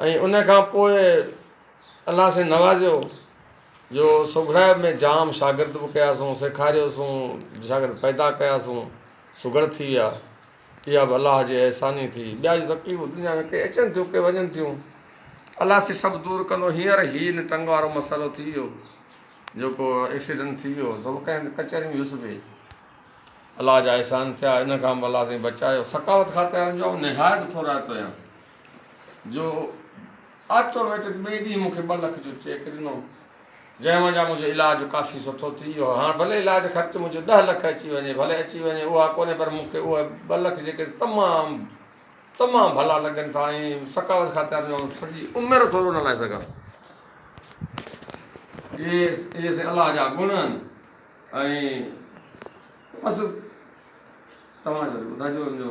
۽ ان کان پوء الله سائين نوازيو جو سگهڙائپ ۾ جام شاگرد به ڪياسون سيکاريوسون شاگرد پيدا ڪياسون سگهڙ ٿي ويا اها به الله جي احسان ئي ٿي ٻيا جو تڪليفون دنيا ۾ ڪي اچن ٿيون ڪي وڃن ٿيون الله سائين سڀ دور ڪندو هينئر هي هن ٽنگ وارو مسئلو ٿي ويو جيڪو ايڪسيڊنٽ ٿي ويو سڀ ڪنهن ڪچهري ۾ هيس به الله جا احسان ٿيا ان کان به الله سائين بچايو ثقافت کاتي وارن جو آئون نهايت ٿورائتو آهيان جو آٽوميٽڪ ٻئي ڏينهن مون کي ٻه لک جو چيڪ ڏنو، جنهن منجهان منهنجو علاج ڪافي سٺو ٿي ويو. هاڻ ڀلي علاج خرچ منهنجو ڏهه لک اچي وڃي، ڀلي اچي وڃي اها ڪونهي پر مون کي اهي ٻه لک جيڪي تمام تمام ڀلا لڳن ٿا ۽ ثقافت خاطر جو آئون سڄي عمر ٿورو نه لائي سگهان اهي اهي سين الله جا گڻ آهن ۽ بس توهان ٻڌاجو جو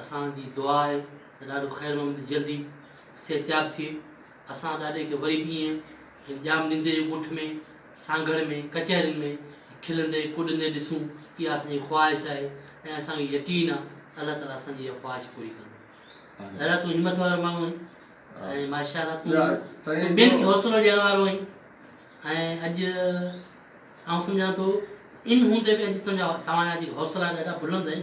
اسان جي دعا آهي ته ڏاڏو خير محمد جلدي صحتياب ٿئي. اسان ڏاڏي کي وري به ائين هن ڄام نندي جي ڳوٺ ۾ سانگهڙ ۾ ڪچهرين ۾ کلندي ڪڏندي ڏسون اها اسان جي خواهش آهي ۽ اسان کي يقين آهي ته الله تعاليٰ اسان جي اها خواهش پوري ڪندو. ڏاڏا تون همٿ وارو ماڻهو آهين ۽ ماشاءالله تون تون ٻين کي حوصلو ڏيڻ وارو آهين ۽ اڄ آئون سمجهان ٿو ان هوندي به اڄ تنهنجا توهان جا جيڪي حوصلا آهن ڏاڍا بلند آهن.